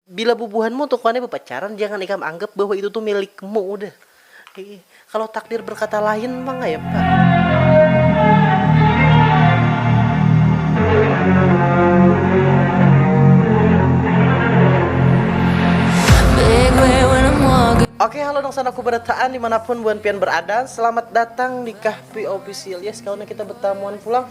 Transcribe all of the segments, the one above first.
Bila bubuhanmu tu kuannya bapacaran, jangan ikam anggap bahwa itu tu milikmu udah. Kalau takdir berkata lain pang kaya apa. Oke halo dangsanak ku barataan dimanapun buhan pian berada selamat datang di Kahfi Official yes kawan kita betamuan pulang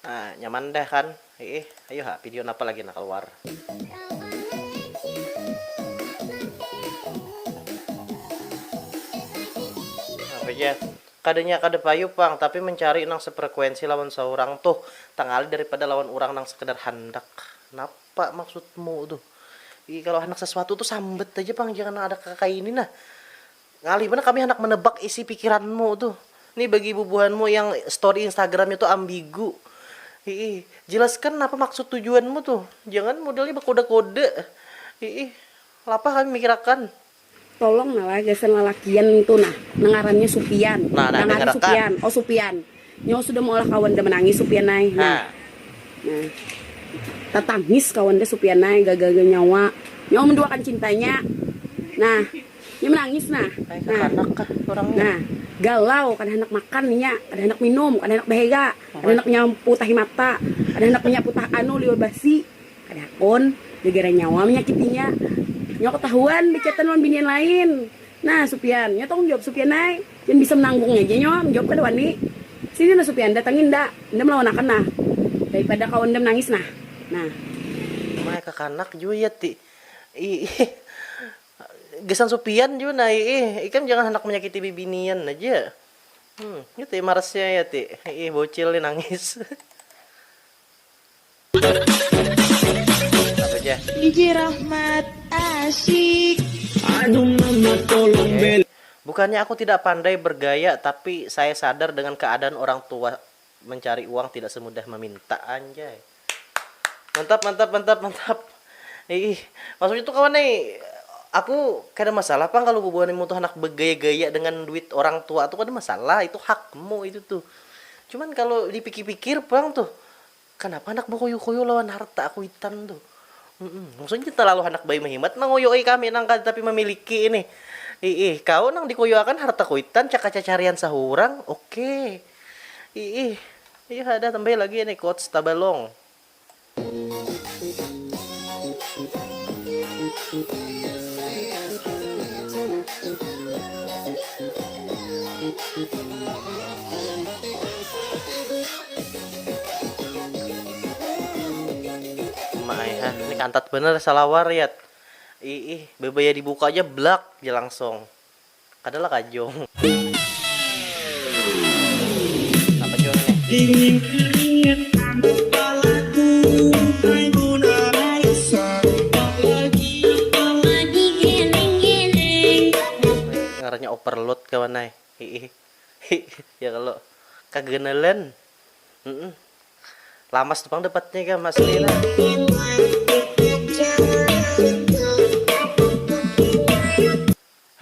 Nah nyaman dah kan hiih ayu ha video napa lagi nah kaluar. Apa ja kadanya kada payu pang tapi mencari nang sefrekuensi lawan saurang tuh tangali daripada lawan urang nang sekedar handak napa maksudmu tuh ii kalo handak sesuatu tuh sambat aja pang jangan ada kakaini nah. Ngalih banar kami handak menebak isi pikiranmu tuh. Nih bagi bubuhanmu yang story instagramnya tuh ambigu. Hiih. Jelaskan napa maksud tujuanmu tuh. Jangan modelnya bekoda-koda. Hiih. Lapah kami mikir akan. Tolong nah lah gasan lalakian ngitu nah. Nang ngarannya Supian. Nah, nah, nang ngarannya Supian. Oh Supian. Nyawa sudah maulah kawan dah manangis supian ai nah nah tatangis kawan dah supian ai gaga ga nyawa nyawa menduakan cintanya nah nya menangis nah nah nah galau kada handak makan inya kada handak minum kada handak behega kada handak menyapu tahi mata kada handak menyapu tah anu liur basi kada hakun gegara nyawa menyakitinya nyawa ketahuan bechatan lawan binian lain nah supian nya tanggung jawab supian ai. Pian bisa menanggungnya ja nyom, jawab kada wani. Sini nah supian, datangi nda, nda melawanakan nah, daripada kawa nda menangis nah, nah. Umai kakanak jua ya ti iih, gasan supian jua nah iih, ikam jangan handak menyakiti bibinian aja, hmm, nya ti marasnya ya ti iih, bocil nih nangis. Bukannya aku tidak pandai bergaya tapi saya sadar dengan keadaan orang tua mencari uang tidak semudah meminta anjay mantap mantap mantap mantap iih maksudnya tuh kawan nih aku kada masalah pang kalu bubuhan imu tuh handak begaya-gaya dengan duit orang tua tuh kada masalah itu hakmu itu tuh cuman kalu dipikir-pikir pang tuh Kanapa handak bakuyu-kuyu lawan harta kuitan tu? Humm, maksudnya talalu handak bayu mahimat manguyui kami nang kada tapi mamiliki ini. Iih, kau nang dikuyuakan harta kuitan caka cacarian sahurang, oke. Iih, iih ada tambahi lagi ini quotes tabalong. Maaihan, ini kantat bener salawar yat. Iih, bebaya dibuka aja blak ja langsung. Kada lah kajung. Napa jua ini? Dingin keringat panas palaku hai Muna Raisa apalagi apalagi geleng geleng. Ngarannya overload kawan ai. Iih. Hi, ya kalo kaganalan. Mm-mm. Lamas tu pang dapatnya ikam asli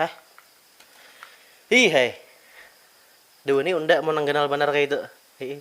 Hah? Hi hai. Duh ni unda mau nang ganal banar kaitu. Hi.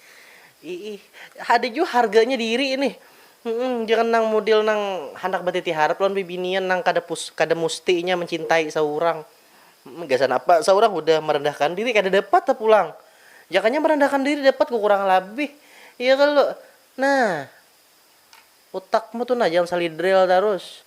Iih, ada jua harganya diri nih. Humm, jangan nang mudil nang handak batiti harap lawan bibinian nang kada pus kada musti inya mancintai saurang. Humm, gasan apa saurang hudah marandahkan diri kada dapat ha pulang. Jakanya marandahkan diri dapat kukurangan labih, iya kalo? Nah. Utakmu tu nah jangan salidrel tarus.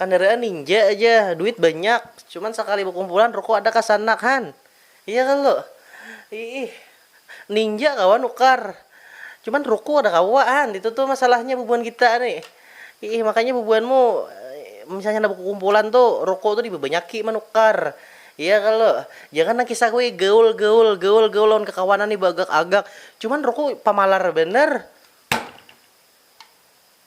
Kandaraan ninja aja, duit banyak, cuman sakali bakumpulan ruko ada kasanak han. Iya kalu? Iih. Ninja kawa nukar, cuman ruko kada kawa han, itu tu masalahnya bubuhan kita ni. Iih, makanya bubuhanmu misalnya handak bakukumpulan tu ruko tu dibabanyaki manukar. Iya kalu? Jangan nang kisah kuy gaul gaul gaul gaul lawan kakawanan ni baagak agak, cuman ruko pamalar banar.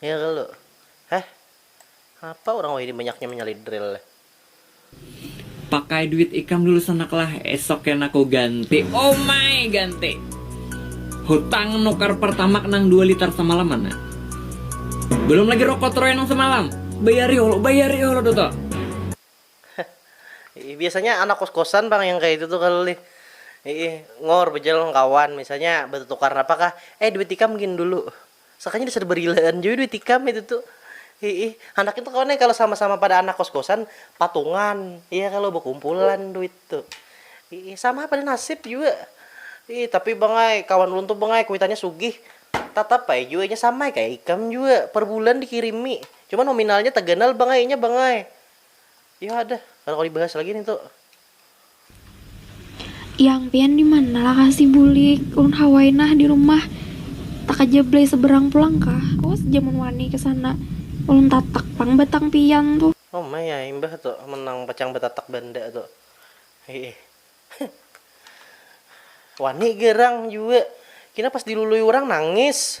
Ngirl, heh, apa urang wahini banyaknya manyalid dril leh. Pakai duit ikam dulu sanak lah, esok kena ku ganti. Omai, ganti. Hutang nukar pertamak nang dua litar samalam mana. Belum lagi rokok troy nang samalam. Bayari holo, bayari holo tu to. Heh, biasanya anak kos-kosan pang yang kaya itu tu kalo lih. Hih, ngor, bejalan lawan kawan, misalnya betutukar napa kah, eh duit ikam gin dulu. Sakanya dasar berilaan jua duit ikam itu tu. Hiih, handak itu kawan ai kalo sama-sama pada anak kos-kosan patungan iya kalo bakumpulan duit tu. Hiih, sama ai pada nasib jua. Hiih, tapi bang ai kawan ulun tu bang ai kuitannya sugih. Tatap ai jua inya sama ai kaya ikam jua, per bulan dikirimi. Cuma nominalnya taganal bang ai inya bang ai. Iyadah, kada kawa dibahas lagi nih tu. Yang pian dimana lakasi bulik, ulun hawai nah di rumah, takajablai seberang pulang kah, awas ja mun wani kesana, ulun tatak pang batang pian tu. Oh mai ai mbah tu mun nang pacang batatak banda tu hiih wani gerang jua, kina pas dilului urang nangis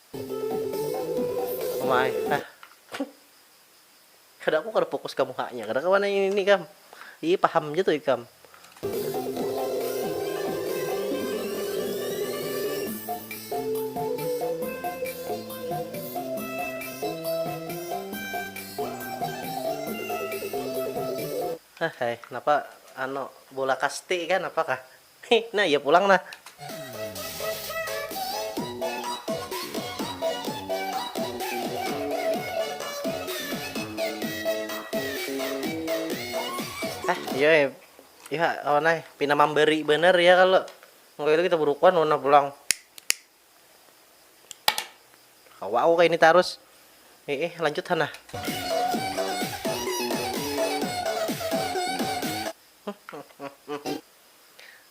Uma ai, ah. Kada aku kada fokus ka muhanya, kada kawa nang ini ikam. Ih paham ja tu ikam. Hahai, napa anu bola kasti kah napa kah. Heh, nah iya pulang nah. Heh, iya eh. Iya, kawan eh. Pina mamberi banar iya kalo. Engkau itu kita burukuan wan nah pulang. Kawa aku kaini tarus. Eh, eh, lanjut ha nah.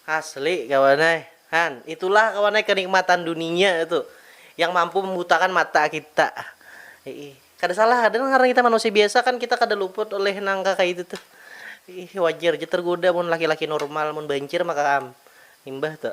Asli kawan ai, han itulah kawan ai kenikmatan duninya itu yang mampu membutakan mata kita, iih kada salah ada nang ngarannya kita manusia biasa kan kita kada luput oleh nang kaya itu tuh, iih wajar ja tergoda mun laki-laki normal mun bancir maka am imbah tu.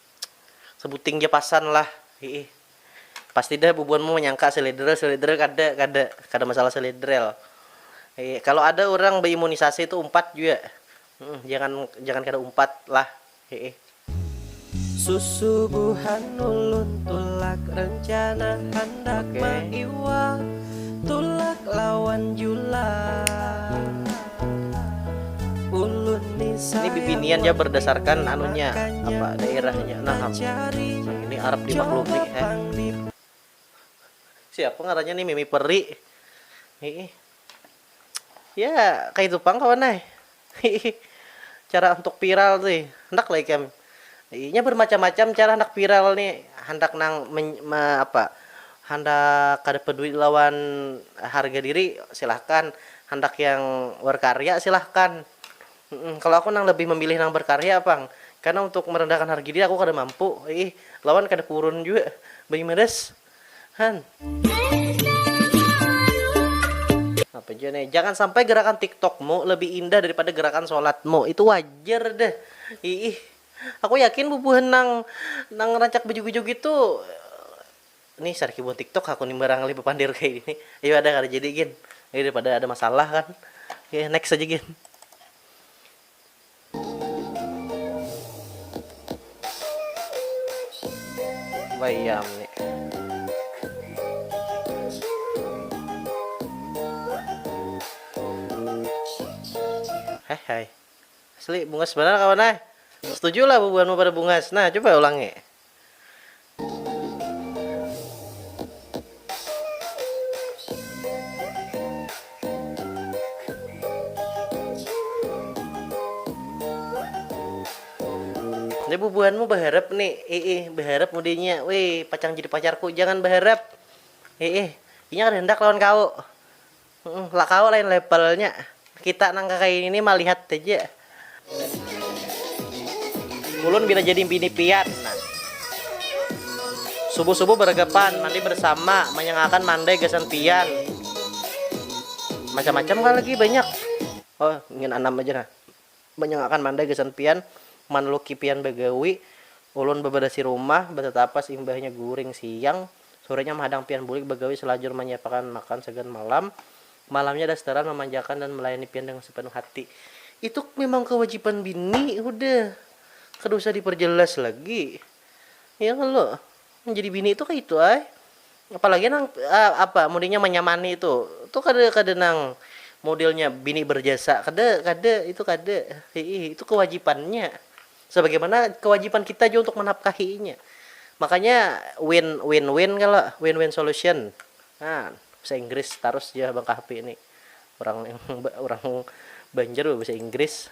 Sebuting ja pasan lah. Hiih. Pasti dah bubuhan mu manyangka seledrel, seledrel kada, kada. Kada masalah seledrel. Hiih. Kalo ada urang beimunisasi tu umpat jua. Humm. Jangan, jangan kada umpat lah. Hiih. Susubuhan ulun tulak rencana handak maiwak tulak lawan julak. Ini bibinian ya berdasarkan anunya apa daerahnya nah ini Arab dimaklumi eh. Siapa ngarannya nih Mimi Peri. Hii. Ya, kayak itu pang kawan eh. Hii. Cara untuk viral sih. Hendak lah ikan. Inya bermacam-macam cara handak viral ni, handak nang apa handak kada peduli lawan harga diri silahkan, handak yang berkarya silahkan. Kalo aku nang lebih memilih nang berkarya pang, karena untuk merendahkan harga diri aku kada mampu, lawan kada purun jua, banyumadas. Apa jua nih? Jangan sampai gerakan tiktokmu lebih indah daripada gerakan sholatmu. Itu wajar deh. Iih. Aku yakin bubuhan nang nang rancak bejoget-joget tu nih sariki buhan tiktok aku nih barangkali bepandir kayak gini. Iya ada kada jadi gin. Ini daripada ada masalah kan. Oke, next aja gin. Bayam ni. Hehe. Asli bungas banar kawan ay. Setuju lah bubuhanmu pada bungas. Nah, coba ulangi. Nih bubuhanmu baharap ni iih baharap mudanya wih pacang jadi pacarku jangan baharap iih inya kada handak lawan kawu. Lakau lain levelnya, kita nang kakaya ini ni malihat haja. Ulun bila jadi bini pian nah. Subuh subuh beragapan, mandi bersama, manyangakan mandai gasan pian. Macam macam kah lagi banyak. Oh ingin anam aja nah. Manyangakkan mandai gasan pian, manluki pian bagawi, ulun babarasi rumah, batatapas imbahnya guring siang, surenya mahadang pian bulik bagawi salajur manyiapakan makan sagan malam, malamnya dastaran mamanjakan dan malayani pian dengan sapanuh hati. Itu mimang kawajiban bini hudah, kada usah diparjalas lagi. Ya kalo? Menjadi bini tu kaitu ai. Apalagi nang apa mudinya manyamani tu. Tu kada kada nang modelnya bini berjasa. Kada kada itu kada. Hiih itu kewajipannya. Sebagaimana kewajipan kita jua untuk menapkahi inya. Makanya win win win kalo win win solution. Nah bahasa inggris tarus ja bang kahfi ni. Urang urang banjar bebahasa inggris.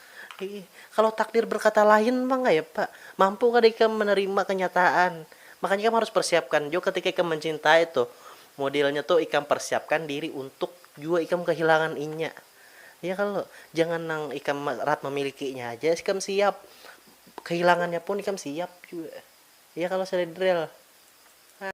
Hiih, kalau takdir berkata lain pang kaya apa? Mampu kada ikam menerima kenyataan? Makanya ikam harus persiapkan jua ketika ikam mencintai tuh. Modelnya tuh ikam persiapkan diri untuk jua ikam kehilangan inya. Ya kalo? Jangan nang ikam rahat memilikinya haja ikam siap, kehilangannya pun ikam siap jua. Ya kalo Sledrel? Hah.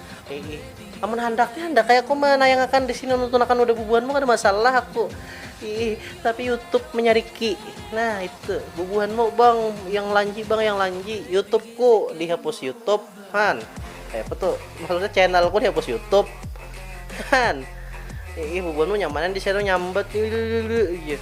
Iih, amun handak nih handak ai aku manayangakan di sini nuntunakan wadah bubuhanmu kada masalah aku. Iih, tapi YouTube manyariki. Nah, itu bubuhanmu bang yang lanji bang yang lanji YouTubeku dihapus YouTube han. Kaya apa tuh? Maksudnya channelku dihapus YouTube han. Iih, bubuhanmu nyamanan di sana nyambat. Iih.